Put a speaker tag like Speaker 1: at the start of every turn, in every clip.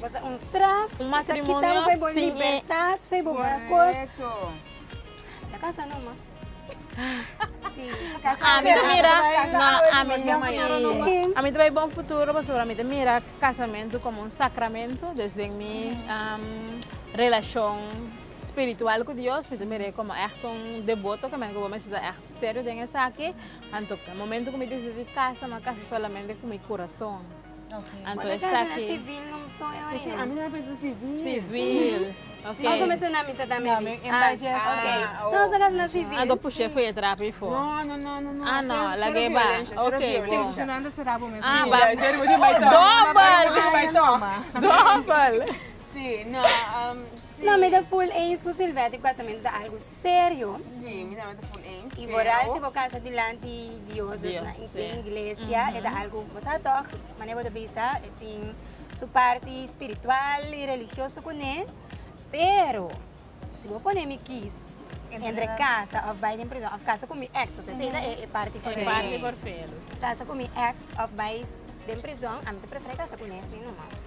Speaker 1: Bo sa un straf. Un matrimonio sin e. Corecto. Ta casa no ma. Si. Ami ta mira na ami si ami ta bay bon futuro pasobra ami ta mira casamento como un sacramento dus den mi relacion spiritual cu Dios mi ta mira e como echte un deboto cu bo mester ta echte serio den esaki anto momento cu mi decidi casa mi a casa solamente cu mi curason. Anto esaki. Civil. Anto push'é fo'i e trapo i fo. Ah no, lag'é ba. Ok bo. Ah ba dobel. Dobel. Serio? Sí, mi nan a ta full eens. Y vooral si bo cansa dilanti Dios, dus na in tin iglesia, e ta algo, bo sa toch, mane bo ta bisa, e tin su parti spiritual y religioso cune, pero si bo pone mi kies entre casa of bay den prision, of casa cu mi ex, porque esey ta e parti forfelu, casa cu mi ex of bay den prision, ami ta prefere casa cune esey nomas.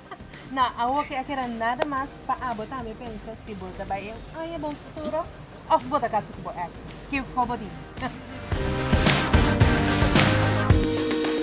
Speaker 1: Na awo ke a keda nada mas pa abo tambe pensa si bo ta bai e un aña bon futuro of bo ta casa ku bo ex. Kico bo di?